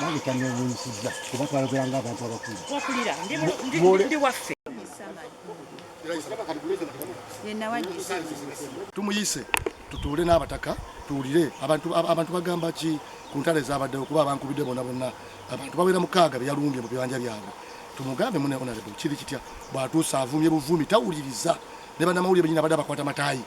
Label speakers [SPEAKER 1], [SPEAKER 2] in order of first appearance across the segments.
[SPEAKER 1] bandikyanyewunyisiza kuba twayogera nga abantu
[SPEAKER 2] abakulu tumuyise tutuule n'abataka tuwulire abantu bagamba ki ku ntalo ezabaddewo kuba abankubidde bona bonna abantu bawera mukaaga beyalumbye mu bibanja byabwe tumugambe mune onarable kiri kitya bwatuusa avumye buvumi tawuliriza ne banamawulire benyina badde abakwata matayi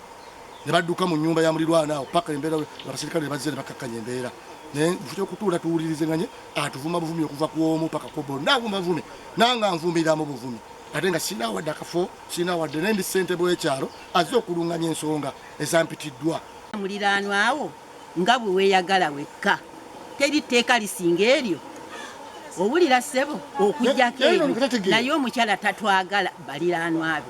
[SPEAKER 2] ne badduka mu nnyumba ya mulirwana awo paka embeera abaserikale ne bazze ne bakkakkanya embeera naye nfuta okutuula tuwulirizeganye atuvuma buvumi okuva ku omu paka ku bonna avuma buvumi nanga nvumira mu buvumi ate nga sirina wadde akafo sirina wadde naye ndi ssentebe w'ekyalo azze okulunganya ensonga ezampitiddwa muliraanwa
[SPEAKER 1] awo Nga bwe weeyagala wekka. Teri tteeka lisinga eryo. Owulira ssebo? Okuggyako eryo. Naye omukyala tatwagala baliraanwa be.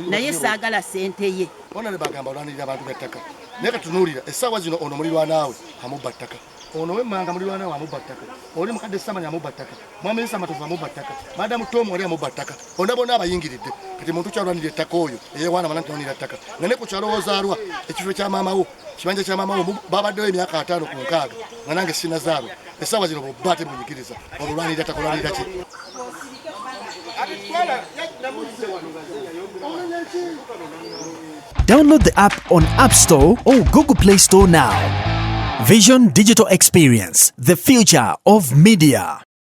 [SPEAKER 1] Naye ssaagala ssente ye. Bona ne bagamba olwanirira
[SPEAKER 2] abantu bya ttaka. Naye kati tunuulira, essaawa zino ono mulirwanaawe amubba ttaka. Ono ow'emmanga mulirwanaawe amubba ttaka. Oli mukadde Samanya amubba ttaka. mwami yisama tuva mubba ttaka madamu tom wali amubba ttaka bona bona abayingiridde kati muntu kyalwanira ettaka oyo eyewaana mana ntiwanira ttaka nga ne ku kyalo wozaalwa ekifo kya maama wo kibanja kya maama wo babaddewo emyaka ataano ku nkaaga nga nange sinazaalwa esaawa zino bubba ate munyigiriza olulwanirira ttaka olwanirira ki
[SPEAKER 3] Download the app on App Store or Google Play Store now. Vision Digital Experience, the future of media.